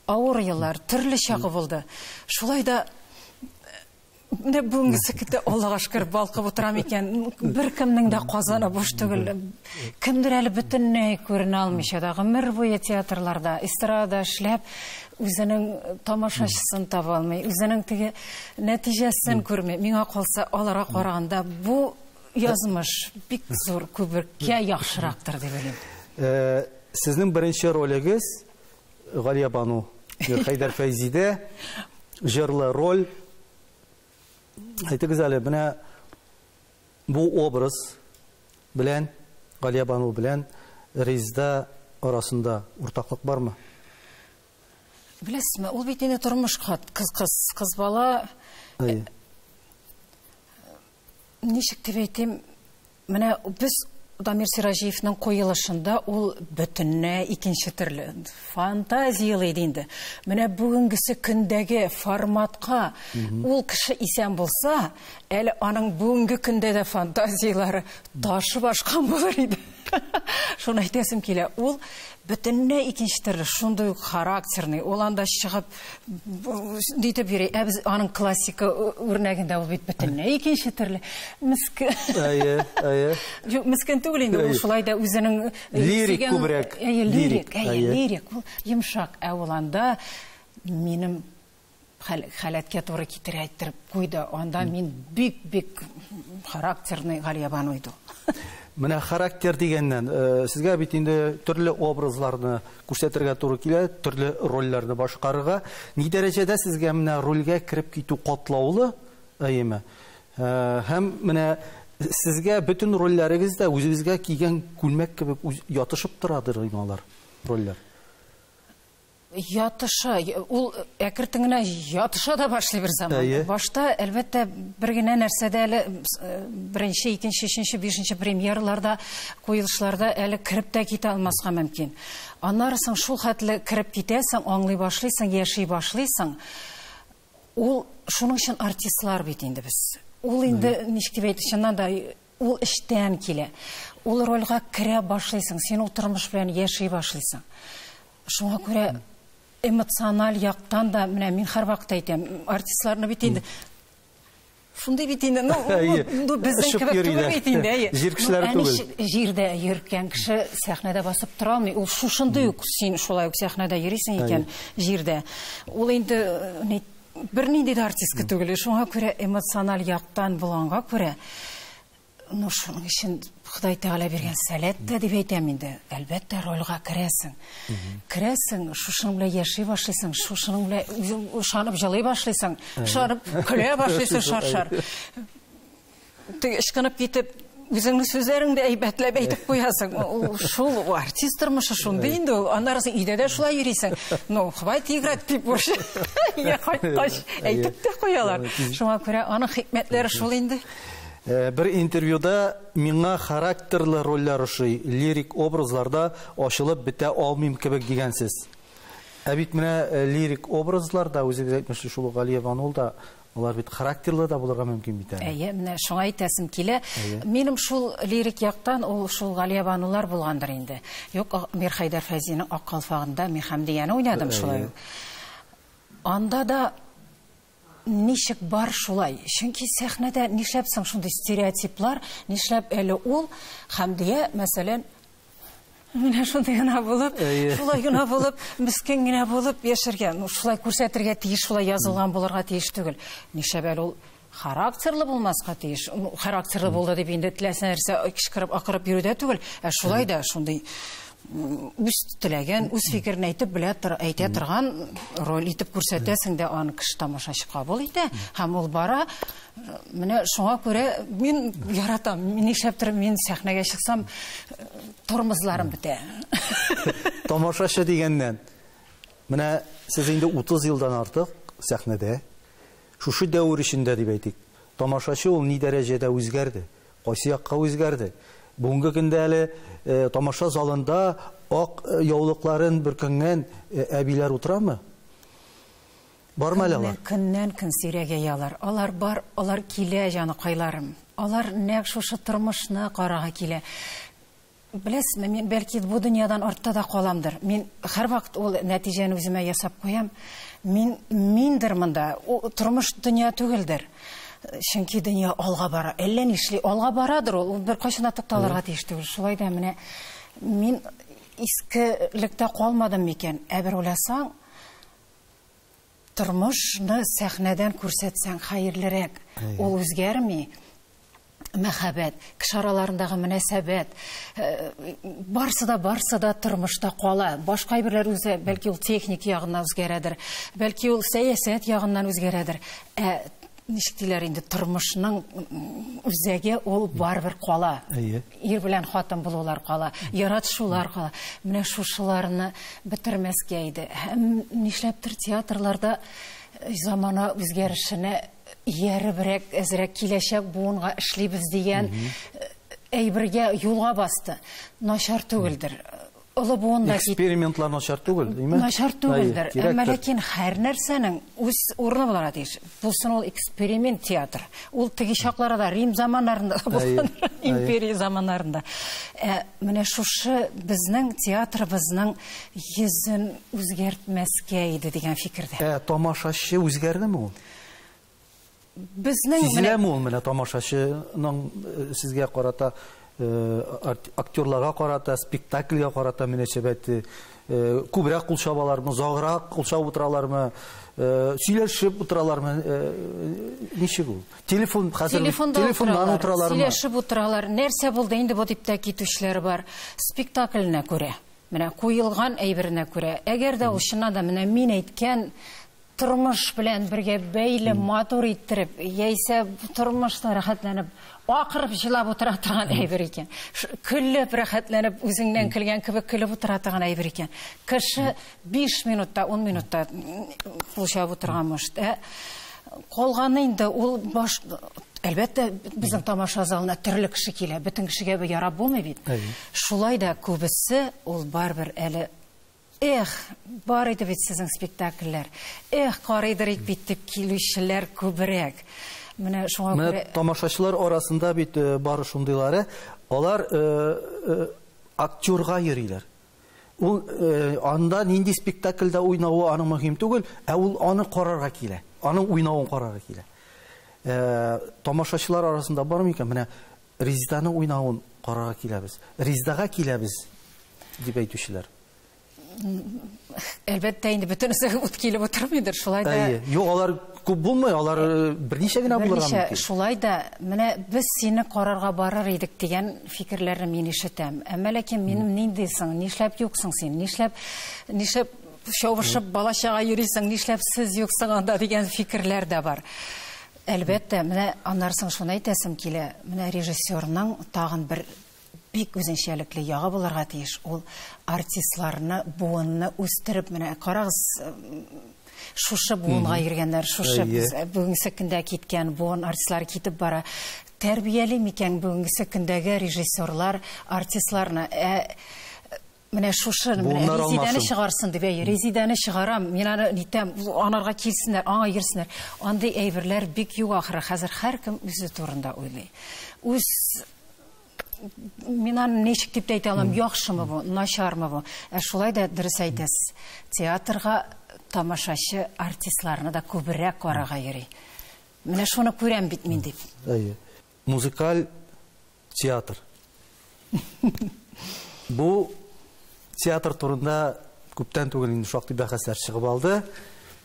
авыр еллар төрле чагы булды шулай да Менә бүгенге сәкетә Аллага шөкер балкып утырам икән. Беркемнең дә казаны буш түгел. Кемдер әле бөтенләй күренә алмыйча да гомер буе театрларда, эстрада эшләп, үзенең тамашачысын таба алмый, үзенең теге нәтиҗәсен күрми. Миңа калса, аларга караганда бу язмыш бик зур күбеккә яхшырактыр дип уйлыйм. Э, сезнең беренче ролегез Галиябану, Хәйдәр Фәйзидә, җырлы роль. Әйтегез әле, менә бу образ белән, Галиябану белән Резда арасында уртаклык бармы? Беләсезме, ул бит инде тормыш кыз, кыз бала. Әй. Ничек дип әйтим, менә без Дамир Сираҗиевның куелышында ул бөтенләй икенче төрле фантазияле иде инде. Менә бүгенгесе көндәге форматка ул кеше исән булса, әле аның бүгенге көндә дә фантазияләре ташып ашкан булыр иде. Шуны әйтәсем килә. Ул Бөтенләй икенче төрле, шундый ук характерный, ул анда чыгып дитеп йөри, ә без аның классика үрнәгендә ул бит бөтенләй икенче төрле. Мискен. Әйе, әйе. Юк, мискен түгел инде, ул шулай да үзенең лирик күбрәк. Әйе, лирик, әйе, лирик. Ул йомшак, ә ул анда минем хәл, халәткә туры китерә әйттереп куйды. Анда мин бик-бик характерный Галиябан уйду. Менә характер дигәннән, э, сезгә бит инде төрле образларны күрсәтергә туры килә, төрле рольләрне башкарырга. Ни дәрәҗәдә сезгә менә рольгә кереп китү катлаулы, әйеме? Э, һәм менә сезгә бөтен рольләрегез дә үзегезгә кигән күлмәк кебек ятышып торадыр инде алар, рольләр. Ятыша, ул әкертен генә ятыша да башлый бер заман. Башта, әлбәттә, бер генә нәрсәдә әле э, беренче, икенче, өченче, бишенче премьерларда, куелышларда әле кереп тә китә алмаска мөмкин. Аннары соң шул хәтле кереп китәсең, аңлый башлыйсың, яши башлыйсың. Ул шуның өчен артистлар бит инде без. Ул инде ничек дип әйтсәң, чыннан да Ул эчтән килә. Ул рольгә керә башлыйсың, син ул тормыш белән яши башлыйсың. Шуңа күрә эмоциональ яктан да, менә мин һәрвакыт әйтәм, артистларны бит инде шундый бит инде, ну, ну безнең кебек түгел бит инде, әйе. Җир кешеләре ну, түгел. Җирдә йөргән кеше сәхнәдә басып тора алмый. Ул шушындый ук син шулай ук сәхнәдә йөрисең икән җирдә. Ул инде э, Бернинди дә артистка түгел. Шуңа күрә эмоциональ яктан булганга күрә, ну, шуның өчен Ходай Тәгалә биргән сәләт тә дип әйтәм инде. Әлбәттә, рольга керәсең. Керәсең, шушының белән яши башлыйсың, шушының белән ышанып җылый башлыйсың, ышанып көлә башлыйсың шаршар. Теге ышкынып китеп, үзеңнең сүзләрең дә әйбәтләп әйтеп куясың. Ул шул ул артист тормышы шундый инде ул. Аннары син өйдә дә шулай йөрисең. Ну, хвай тигрәт дип буш. Я кайткач әйтеп тә куялар. Шуңа күрә аның хикмәтләре шул инде. Э, бер интервьюда миңа характерлы рольләр ошый, лирик образларда ачылып бетә алмыйм кебек дигәнсез. Ә бит менә э, лирик образларда үзегез әйтмешли шул Галия Ванул да Алар бит характерлы да булырга мөмкин бит әле. Әйе, менә шуңа әйтәсем килә. Минем шул лирик яктан ул шул Галия Банулар булгандыр инде. Юк, Мирхәйдәр Фәйзинең Ак калфагында Мирхәмдияне уйнадым шулай ук. Анда да ничек бар шулай. Чөнки сәхнәдә нишләп соң шундый стереотиплар, нишләп әле ул Хәмдия, мәсәлән, Менә шундый гына булып, шулай гына булып, мискен генә булып яшәргә, ну шулай күрсәтергә тиеш, шулай язылган булырга тиеш түгел. Нишләп әле ул характерлы булмаска тиеш. Ну, характерлы булды дип инде теләсә нәрсә кычкырып, акырып йөрү дә түгел, ә шулай да шундый м, үз теләген, үз фикерен әйтеп белә тор, әйтә торган роль итеп күрсәтәсең дә аны кеше тамашачы кабул итә һәм ул бара Менә шуңа күрә мин яратам. Нишләптер мин сәхнәгә чыксам, тормозларым бетә. Тамашачы дигәннән. Менә сез инде 30 елдан артык сәхнәдә. Шушы дәвер эчендә дип әйтик, тамашачы ул ни дәрәҗәдә үзгәрде? Кайсы якка үзгәрде? Бүгенге көндә әле тамаша залында ак яулыкларын бөркәнгән әбиләр утырамы? Бармы әле алар? Көннән көн сирәгәяләр. Алар бар, алар килә, җаныкайларым. Алар нәкъ шушы тормышны карарга килә. Беләсезме, мин бәлки бу дөньядан артта да каламдыр. Мин һәрвакыт ул нәтиҗәне үземә ясап куям. Мин миндер монда, тормыш дөнья түгелдер. Чөнки дөнья алга бара. Әллә нишли алга барадыр ул, ул беркайчан да тукталырга тиеш түгел. Шулай да менә мин искелектә калмадым микән? Ә бер уйласаң, Тормышны сәхнәдән күрсәтсәң хәерлерәк. Ул үзгәрми. Мәхәббәт, кеше араларындагы мөнәсәбәт, барсы да, барсы да тормышта кала. Башка әйберләр үзе, бәлки ул техник ягыннан үзгәрәдер, бәлки ул сәясәт ягыннан үзгәрәдер. Ә Ничек диләр инде, тормышның үзәге ул барыбер кала. Әйе. Ир белән хатын булулар кала, яратышулар кала. Менә шушыларны бетермәскә иде. Һәм нишләптер театрларда э, замана үзгәрешенә ияребрәк, әзрәк киләчәк буынга эшлибез дигән э, әйбергә юлга басты. Начар түгелдер. Олы буын да кит. Экспериментлар начар түгел, димме? Начар түгелдер. Әмма ләкин һәр нәрсәнең үз урыны буларга тиеш. Булсын ул эксперимент театр. Ул теге чакларда Рим заманнарында булган, империя заманнарында. Ә менә шушы безнең театрыбызның йөзен үзгәртмәскә иде дигән фикердә. Ә тамашачы үзгәрдеме ул? безнең Сизеләме ул менә тамашачының э, сезгә карата э, актерларга карата, спектакльгә карата мөнәсәбәте э, күбрәк кул чабалармы, заграк кул чабып утыралармы, сөйләшеп утыралармы, ничек ул? Телефон хәзер телефоннан утыралармы? Сөйләшеп утыралар. Нәрсә булды инде бу дип тә китүчеләр бар. Спектакльне күрә. Менә куелган әйберенә күрә. Әгәр дә ул чыннан да менә мин әйткән тормыш белән бергә бәйле матур иттереп, яисә тормышта рәхәтләнеп, акырып җылап утыра торган әйбер икән. Көлеп рәхәтләнеп, үзеңнән көлгән кебек көлеп утыра торган әйбер икән. Кеше 5 минутта, 10 минутта кулчап утырган может. Ә калганы инде ул баш Әлбәттә, безнең тамаша залына төрле кеше килә. Бөтен кешегә бу ярап булмый бит. Шулай да күбесе ул барыбер әле Эх, бар иде бит сезнең спектакльләр. Эх, карыйдыр ик бит дип килүчеләр күбрәк. Менә шуңа күрә... Менә тамашачылар арасында бит э, бары шундыйлары. Алар э, э, актерга йөриләр. Ул анда нинди спектакльдә уйнавы аның мөһим түгел, ә ул аны карарга килә. Аның уйнавын карарга килә. Тамашачылар арасында бар микән? Менә Резеданың уйнавын карарга киләбез. Резедага киләбез, дип әйтүчеләр. Әлбәттә, инде бөтенесе үт килеп утырмыйдыр, шулай да. Әйе. Юк, алар күп булмый, алар э, берничә генә булырга мөмкин. Берничә, шулай да, менә без сине карарга барыр идек дигән фикерләрне мин ишетәм. Әмма ләкин минем нинди соң, нишләп юксың син, нишләп, нишләп чабышып балачага йөрисең, нишләп сез юксың анда дигән фикерләр дә бар. Әлбәттә, менә аннары соң шуны әйтәсем килә, менә режиссерның тагын бер бик үзенчәлекле ягы булырга тиеш, ул артистларны, буынны үстереп, менә карагыз, шушы буынга йөргәннәр, шушы бүгенге көндә киткән буын артистлары китеп бара. Тәрбияли микән бүгенге көндәге режиссерлар артистларны? Ә Менә шушы менә Резидәне чыгарсын дип, әй, Резидәне чыгарам, мин аны нитәм, анарга килсеннәр, аңа йөрсеннәр. Андый әйберләр бик юк ахыры. Хәзер һәркем үзе турында уйлый. Үз мин аны ничек дип әйтә алам, яхшымы бу, начармы бу? Ә шулай да дөрес әйтәсез. Театрга тамашачы артистларны да күбрәк карарга йөри. Менә шуны күрәм бит мин дип. Әйе. Музыкаль театр. Бу театр турында күптән түгел инде шактый бәхәсләр чыгып алды.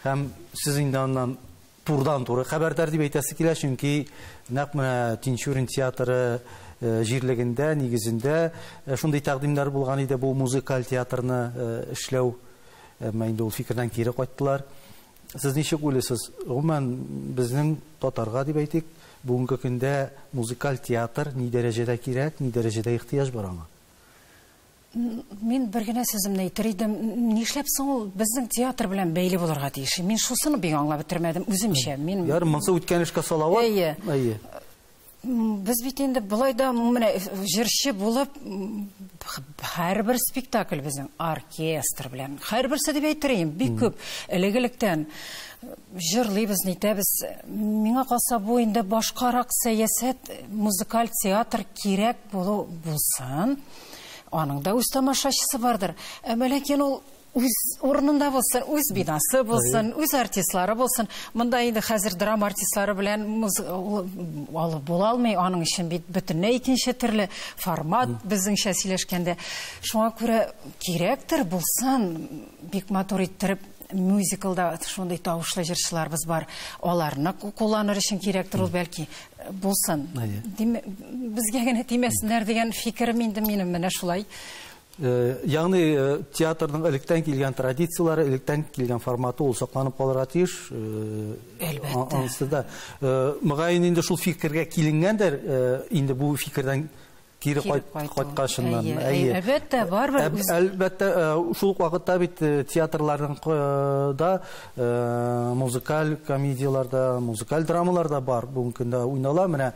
Һәм сез инде аннан турдан туры хәбәрдар дип әйтәсе килә, чөнки нәкъ менә Тинчурин театры э, җирлегендә, нигезендә э, шундый тәкъдимнәр булган иде бу музыкаль театрны э, эшләү. Әмма инде ул фикердән кире кайттылар. Сез ничек уйлыйсыз, гомумән, безнең татарга дип әйтик, бүгенге көндә музыкаль театр ни дәрәҗәдә кирәк, ни дәрәҗәдә ихтыяҗ бар аңа? Мин бер генә сүземне әйтер идем, нишләп соң ул безнең театр белән бәйле булырга тиеш? Мин шусыны бик аңлап бетермәдем үземчә. Мин Ярый, монысы үткән эшкә салават. Әйе. Әйе. Без бит инде болай да менә җырчы булып һәрбер спектакль безнең оркестр белән. Һәрберсе дип әйтер идем, бик күп элек-электән җырлыйбыз, нитәбез. Миңа калса бу инде башкарак сәясәт, музыкаль театр кирәк булу булсын. Аның да үз тамашачысы бардыр. Ә ләкин ул Үз урынында булсын, үз бинасы булсын, үз артистлары булсын. Монда инде хәзер драма артистлары белән алып була алмый, аның өчен бит бөтенләй икенче төрле формат безнеңчә сөйләшкәндә. Шуңа күрә кирәктер булсын, бик матур иттереп мюзиклда шундый тавышлы җырчыларыбыз бар. Аларны кулланыр өчен кирәктер ул бәлки булсын. Безгә генә тимәсеннәр дигән фикерем инде минем менә шулай. Ягъни театрның электән килгән традицияләре, электән килгән форматы ул сакланып калырга тиеш. Әлбәттә. Анысы да. Мөгаен инде шул фикергә киленгәндер, инде бу фикердән кире кайткачыннан. Әйе. Әлбәттә, барыбер. Әлбәттә, шул ук вакытта бит театрларның да музыкаль комедияләр дә, музыкаль драмалар да бар. Бүген көндә уйнала. Менә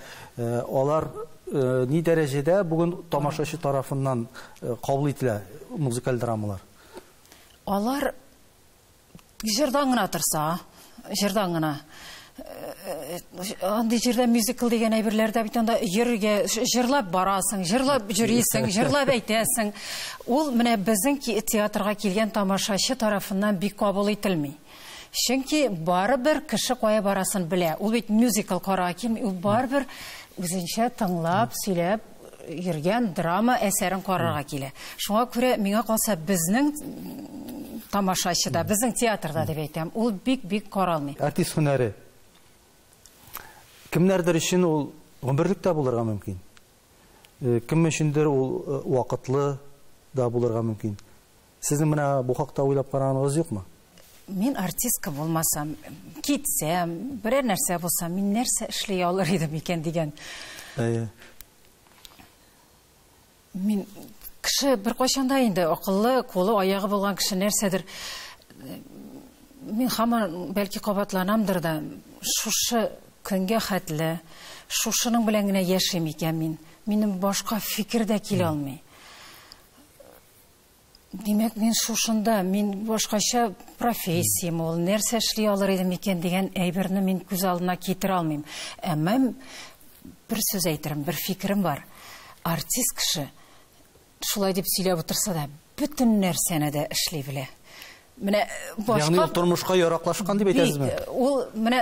алар Ни дәрәҗәдә бүген тамашачы тарафыннан кабул ителә музыкаль драмалар? Алар җырдан гына торса, җырдан гына. Андый җирдә мюзикл дигән әйберләр дә бит анда йөрергә, җырлап барасың, җырлап йөрисең, җырлап әйтәсең. Ул менә безнең театрга килгән тамашачы тарафыннан бик кабул ителми. Чөнки барыбер кеше кая барасын белә. Ул бит мюзикл карарга килми, ул барыбер үзенчә тыңлап, сөйләп йөргән драма әсәрен карарга килә. Шуңа күрә миңа калса безнең тамашачы да, безнең театрда дип әйтәм, ул бик-бик каралмый. Артист һөнәре. Кемнәрдер өчен ул гомерлек тә булырга мөмкин. Э, кем өчендер ул э, вакытлы да булырга мөмкин. Сезнең менә бу хакта уйлап караганыгыз юкмы? Мин артистка булмасам, китсәм, берәр нәрсә булсам, мин нәрсә эшли алыр идем икән дигән. Әйе. Мин кеше бер кайчанда инде акыллы, кулы, аягы булган кеше нәрсәдер мин хаман бәлки кабатланамдыр да, шушы көнгә хәтле шушының белән генә яшим икән мин. Минем башка фикер дә килә алмый. Димәк, мин шушында, мин башкача профессиям ул, нәрсә эшли алыр идем икән дигән әйберне мин күз алдына китерә алмыйм. Әмма бер сүз әйтерем, бер фикерем бар. Артист кеше шулай дип сөйләп утырса да, бөтен нәрсәне дә эшли белә. Менә башка Ягъни тормышка яраклашкан дип әйтәсезме? Ул менә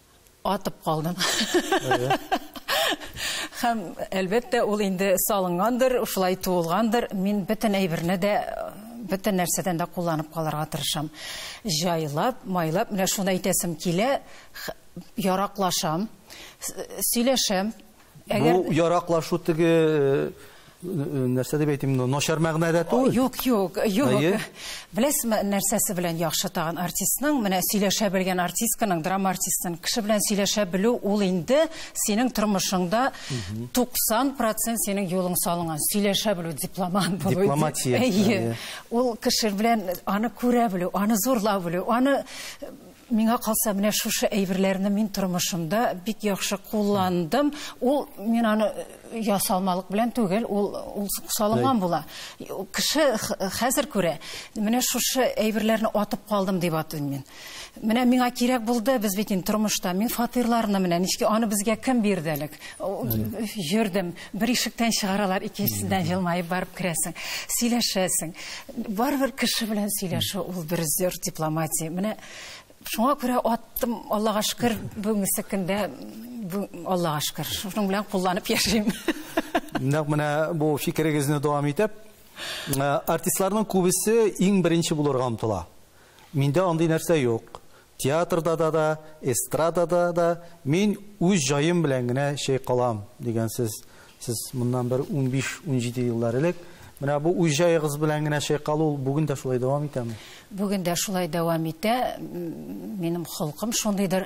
Атып калдым. Һәм, әлбәттә, ул инде салынгандыр, шулай туылгандыр. Мин бөтен әйберне дә, бөтен нәрсәдән дә кулланып калырга тырышам. Җайлап, майлап, менә шуны әйтәсем килә, яраклашам, сөйләшәм, Әгәр... Бу яраклашу теге нәрсә дип әйтим, начар мәгънәдә түгел. Юк, юк, юк. Беләсезме, нәрсәсе белән яхшы тагын артистның, менә сөйләшә белгән артистканың, драма артистын кеше белән сөйләшә белү, ул инде синең тормышыңда 90% синең юлың салынган. Сөйләшә белү, дипломат булу. Дипломатия. Ул кеше белән аны күрә белү, аны зурлап белү, аны Миңа калса, менә шушы әйберләрне мин тормышымда бик яхшы кулландым. Ул мин аны ясалмалык белән түгел, ул ул салынган була. Кеше хәзер күрә, менә шушы әйберләрне атып калдым дип атыйм мин. Менә миңа кирәк булды, без бит инде тормышта, мин фатирларны менә ничек аны безгә кем бирде элек? Йөрдем. Бер ишектән чыгаралар, икенчесендән җылмаеп барып керәсең, сөйләшәсең. Барыбер кеше белән сөйләшү ул бер зур дипломатия. Менә шуңа күрә аттым, Аллага шөкер, бүгенге көндә Аллага шөкер, шуның белән кулланып яшим. Нәкъ менә бу фикерегезне дәвам итеп, артистларның күбесе иң беренче булырга омтыла. Миндә андый нәрсә юк. Театрда да да, эстрадада да мин үз җаем белән генә чайкалам, дигән сез. Сез моннан бер унбиш-унҗиде еллар элек Менә бу үз җаегыз белән генә чайкалу бүген дә шулай дәвам итәме? Бүген дә шулай дәвам итә. Минем холкым шундыйдыр.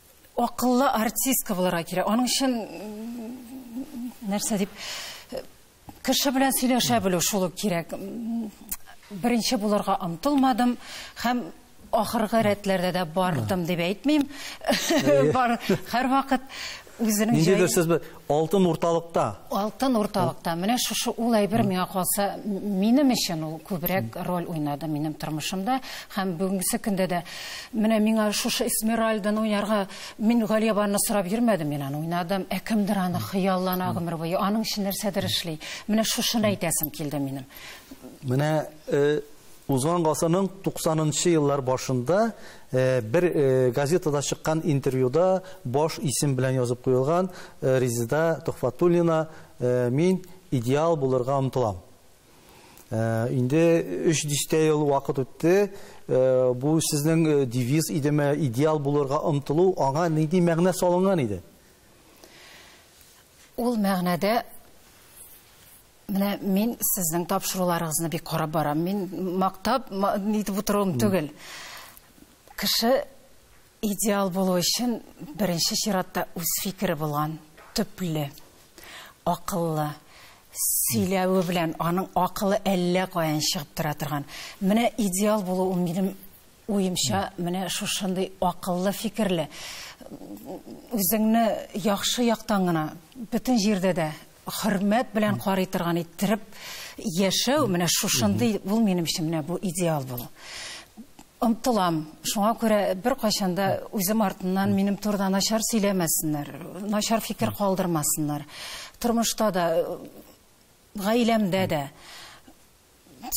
акыллы артистка булырга кирәк. Аның өчен нәрсә дип кеше белән сөйләшә белү шул ук кирәк. Беренче булырга омтылмадым һәм ахыргы рәтләрдә дә бардым дип әйтмим. Бар һәрвакыт үзенең җае. Ниндидер сез Алтын урталыкта. Алтын урталыкта. Менә шушы ул әйбер миңа калса, минем өчен ул күбрәк роль уйнады минем тормышымда һәм бүгенге көндә дә. Менә миңа шушы Эсмеральданы уйнарга мин Галиябанны сорап йөрмәдем, мин аны уйнадым. Ә кемдер аны хыяллана гомер буе, аның өчен нәрсәдер эшли. Менә шушыны әйтәсем килде минем. Менә э, узган гасырның 90 нчы еллар башында Бер газетада чыккан интервьюда баш исем белән язып куелган Резеда Төхфәтуллина Мин идеал булырга омтылам. Инде өч дистә ел вакыт үтте. Бу сезнең девиз идеме, идеал булырга омтылу, аңа нинди мәгънә салынган иде? Ул мәгънәдә Менә мин сезнең тапшыруларыгызны бик карап барам. Мин мактап нитеп утыруым түгел. Кеше идеал булу өчен беренче чиратта үз фикере булган, төпле, акыллы, сөйләве белән аның акылы әллә каян чыгып тора торган. Менә идеал булу ул минем Уемча, менә шушындый акыллы, фикерле, үзеңне яхшы яктан гына, бөтен җирдә дә хөрмәт белән карый торган иттереп яшәү, менә шушындый, ул минем өчен менә бу идеал булу. Омтылам, шуңа күрә беркайчан да үзем артыннан минем турыда начар сөйләмәсеннәр, начар фикер калдырмасыннар. Тормышта да, гаиләмдә дә.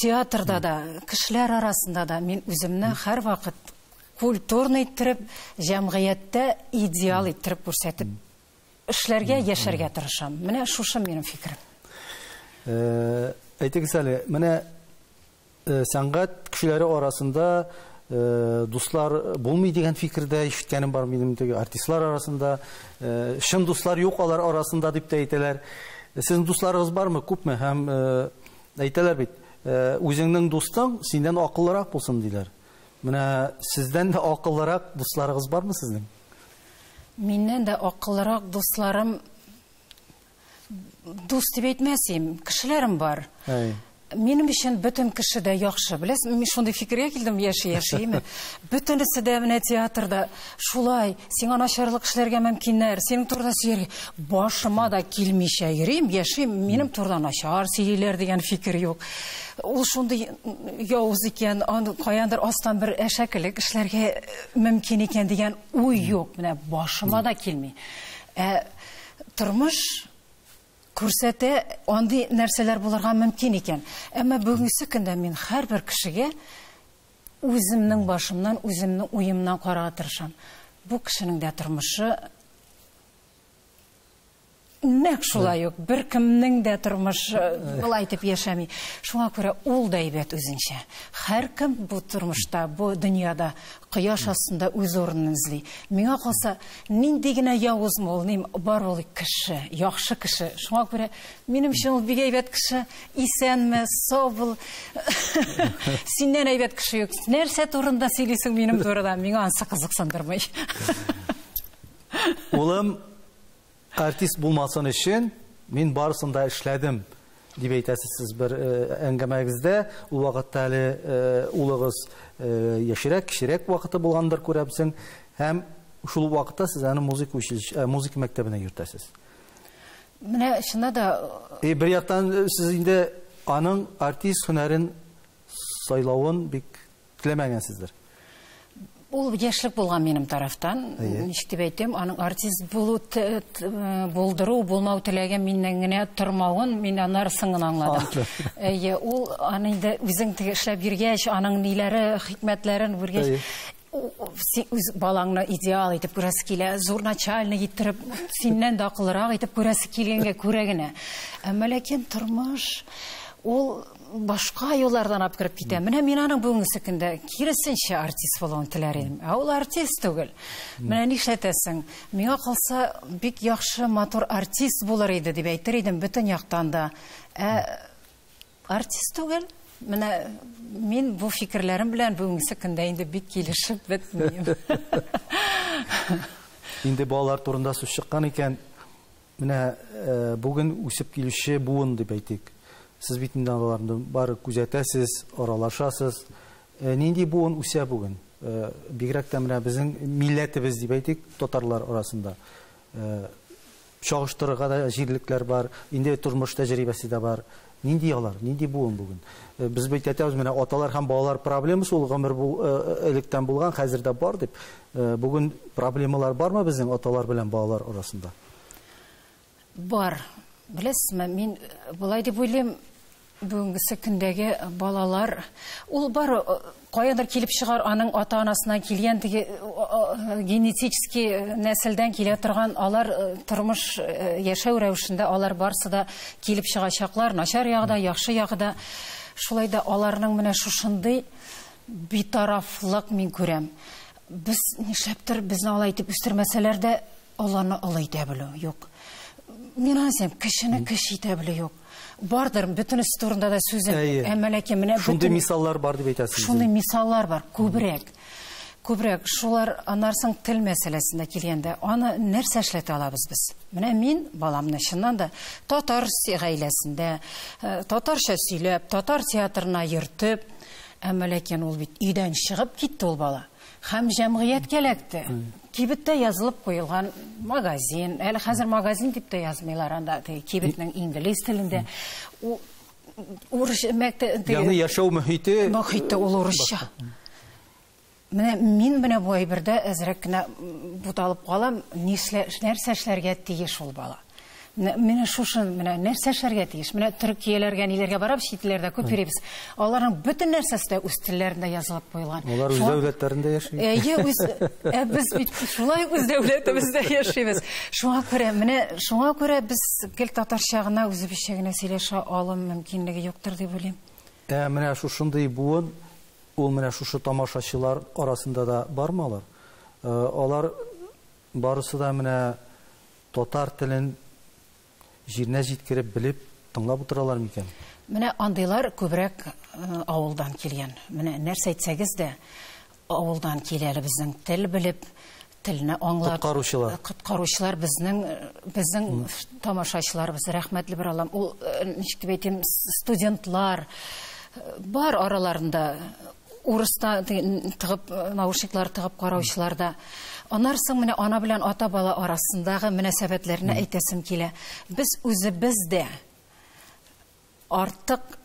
Театрда да, кешеләр арасында да мин үземне һәрвакыт культурный иттереп, җәмгыятьтә идеал иттереп күрсәтеп эшләргә, яшәргә тырышам. Менә шушы минем фикерем. Э, әйтегез әле, менә э, сәнгать кешеләре арасында э, дуслар булмый дигән фикердә ишеткәнем бар минем теге артистлар арасында. Чын дуслар юк алар арасында дип тә әйтәләр. Сезнең дусларыгыз бармы, күпме һәм Әйтәләр бит, үзеңнең дустың синнән акыллырак булсын, диләр. Менә сездән дә акыллырак дусларыгыз бармы сезнең? Миннән дә акыллырак дусларым дус дип әйтмәсем, кешеләрем бар. Әй. Минем өчен бөтен кеше дә яхшы. Беләсең, мин шундый фикергә килдем яши-яши. Бөтенесе дә менә театрда Шулай, сиңа начарлык эшләргә мөмкиннәр, синең турыда сөйләргә. Башыма да килмичә йөрим, яшим, минем турыда начар сөйлиләр дигән фикер юк. Ул шундый явыз икән, аны каяндыр астан бер әшәкелек эшләргә э, мөмкин икән дигән уй юк. Менә башыма да килми. Ә тормыш күрсәтә, андый нәрсәләр булырга мөмкин икән. Әмма бүгенге көндә мин һәрбер кешегә Үземнең башымнан, үземнең уемнан карарга тырышам. Бу кешенең дә тормышы нәкъ шулай ук, беркемнең дә тормышы болай итеп яшәми. Шуңа күрә ул да әйбәт үзенчә. Һәркем бу тормышта, бу дөньяда кояш астында үз урынын эзли. Миңа калса, нинди генә явызмы ул, ним, бар ул кеше, яхшы кеше. Шуңа күрә Минемчә ул бик әйбәт кеше. Исәнме, сау бул. Синнән әйбәт кеше юк. Нәрсә турында сөйлисең минем турыда? Миңа ансы кызыксындырмый. Улым артист булмасын өчен мин барысын да эшләдем дип әйтәсез сез бер э, әңгәмәгездә. Ул вакытта әле э, улыгыз э, яшерәк, кечерәк вакыты булгандыр күрәбсең. Һәм шул вакытта сез аны музыка училище, музыка мәктәбенә йөртәсез. Менә чыннан да И бер яктан сез инде аның артист һөнәрен сайлавын бик теләмәгәнсездер. Ул яшьлек булган минем тарафтан. Ничек дип әйтим, аның артист булу булдыру, булмау теләге миннән генә тормавын мин аннарысын гына аңладым. Әйе, ул аны инде үзең теге эшләп йөргәч, аның ниләре, хикмәтләрен күргәч, син үз балаңны идеал итеп күрәсе килә, зур начальник иттереп, синнән дә акыллырак итеп күрәсе килгәнгә күрә генә. Әмма ләкин тормыш ул башка юллардан алып кереп китә. Менә мин аның бүгенге көндә киресенчә артист булуын теләр идем. Ә ул артист түгел. Менә нишләтәсең? Миңа калса, бик яхшы, матур артист булыр иде дип әйтер идем бөтен яктан да. Ә Артист түгел. Менә мин бу фикерләрем белән бүгенге көндә инде бик килешеп бетмим. Инде балалар турында сүз чыккан икән, менә э, бүген үсеп килүче буын дип әйтик. Сез бит инде аларны бары күзәтәсез, аралашасыз. Э, нинди буын үсә бүген? Э, бигрәк тә менә безнең милләтебез дип әйтик, татарлар арасында. Чагыштырырга да җирлекләр бар, инде тормыш тәҗрибәсе дә бар. Нинди алар, нинди буын бүген? Без бит әйтәбез, менә аталар һәм балалар проблемасы ул гомер бу электән булган, хәзер дә бар дип. Бүген проблемалар бармы безнең аталар белән балалар арасында? Бар. Беләсезме, мин болай дип уйлыйм, бүгенгесе көндәге балалар ул бар каядыр килеп чыгар аның ата анасыннан килгән теге генетический нәселдән килә торган алар тормыш яшәү рәвешендә алар барсы да килеп чыгачаклар начар ягыда яхшы ягыда шулай да аларның менә шушындый битарафлык мин күрәм без нишләптер безне алай итеп үстермәсәләр дә Олыны олы итә белү, юк. Мин аны сем, кешене кеше итә белү юк. Бардыр, бөтенесе турында да сүз әйтә. Әмма ләкин менә шундый мисаллар бар дип әйтәсез. Шундый мисаллар бар, күбрәк. Күбрәк шулар анарсың тел мәсьәләсендә килгәндә, аны нәрсә эшләтә алабыз без? Менә мин баламны чыннан да татар гаиләсендә, э, татарча сөйләп, татар театрына йөртеп, әмма ләкин ул бит өйдән чыгып китте ул бала. Хәм җәмгыятькә эләкте. Кибеттә язылып куелган магазин. Әле хәзер магазин дип тә язмыйлар анда, теге кибетнең инглиз телендә. У- Урыс мәктәбе теге- Ягъни яшәү мөхите Мохитте ул урысча. Менә мин менә бу әйбердә әзрәк кенә м, буталып калам, нишлә, нәрсә эшләргә тиеш ул бала? Менә менә шушы менә нәрсә эшләргә тиеш? Менә Төркияләргә, ниләргә барабыз, чит илләрдә күп йөрибез. Аларның бөтен нәрсәсе дә үз телләрендә язылып куелган. Алар үз Шуңа- дәүләтләрендә яши. Әйе, үз ә без бит шулай үз дәүләтебездә яшибез. Шуңа күрә менә шуңа күрә без гел татарча гына, үзебезчә генә сөйләшә алу мөмкинлеге юктыр дип уйлыйм. Ә менә шушындый буын, ул менә шушы тамашачылар арасында да бармы алар? Э, Алар Барысы да менә татар телен җиренә җиткереп, белеп, тыңлап утыралар микән? Менә андыйлар күбрәк авылдан килгән. Менә нәрсә әйтсәгез дә, авылдан килә әле безнең тел белеп, телне аңлап. Коткаручылар. Коткаручылар безнең, безнең тамашачыларыбыз, рәхмәтле бер Аллам. Ул, ничек дип әйтим, студентлар бар араларында. урыста тыгып наушниклар тыгып караучыларда анар соң менә ана белән ата бала арасындагы мөнәсәбәтләрне әйтәсем килә без үзебез дә артык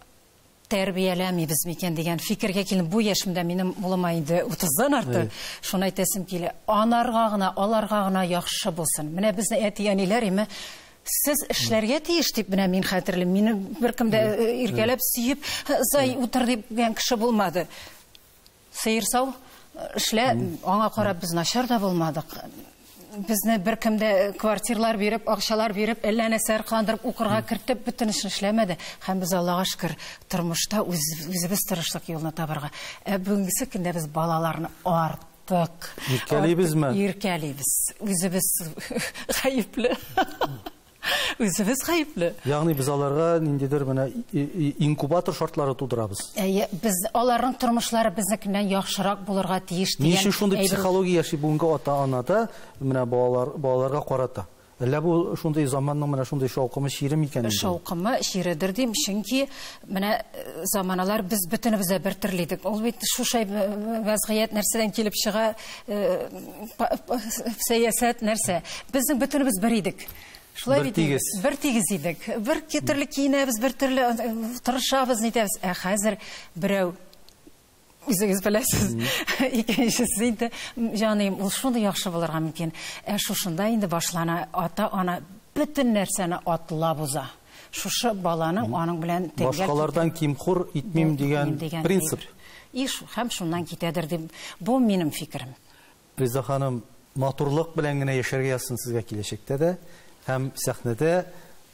тәрбияләмибез микән дигән фикергә килдем бу яшемдә минем улыма инде утыздан арты шуны әйтәсем килә анарга гына аларга гына яхшы булсын менә безнең әти әниләр име Сез эшләргә тиеш дип менә мин хәтерлим. Мине беркем дә иркәләп, сөеп, зай утыр дип дигән кеше булмады. Сыер сау, эшлә, аңа карап без начар да булмадык. Безне беркем дә квартирлар биреп, акчалар биреп, әллә нәрсә аркаландырып, укырга кертеп, бөтен эшне эшләмәде. Һәм без Аллага шөкер, тормышта үз, үзебез тырыштык юлны табарга. Ә бүгенгесе көндә без балаларны арт Так. Иркәлибезме? Иркәлибез. Үзебез гаепле. Үзебез гаепле. Ягъни без аларга ниндидер менә инкубатор шартлары тудырабыз. Әйе, без аларның тормышлары безнекеннән яхшырак булырга тиеш дигән. Ни өчен шундый психология яши бүгенге ата-анада менә балалар балаларга карата? Әллә бу шундый заманның менә шундый шаукымы, чире микән инде? Шаукымы, чиредер дим, чөнки менә э, заманалар без бөтенебез дә бер төрле идек. Ул бит шушай э, вәзгыять нәрсәдән килеп чыга, э, сәясәт нәрсә. Безнең бөтенебез бер идек. Шулай бит тигез. Бер тигез идек. Бер төрле киенәбез, бер төрле тырышабыз, нитәбез. Ә хәзер берәү Үзегез беләсез. Икенчесе инде, җаныем, ул шундый яхшы булырга мөмкин. Ә шушында инде башлана, ата-ана бөтен нәрсәне атлап уза. Шушы баланың аның белән тәңгәл Башкалардан кимхур итмим дигән принцип. Иш, һәм шуннан китәдер дип, бу минем фикерем. Реза ханым, матурлык белән генә яшәргә язсын сезгә киләчәктә дә һәм сәхнәдә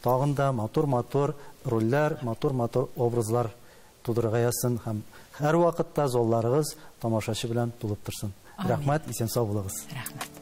тагын да матур-матур рольләр, матур-матур образлар тудырырга язсын һәм һәрвакытта залларыгыз тамашачы белән тулып торсын. Рәхмәт, исән-сау булыгыз. Рәхмәт.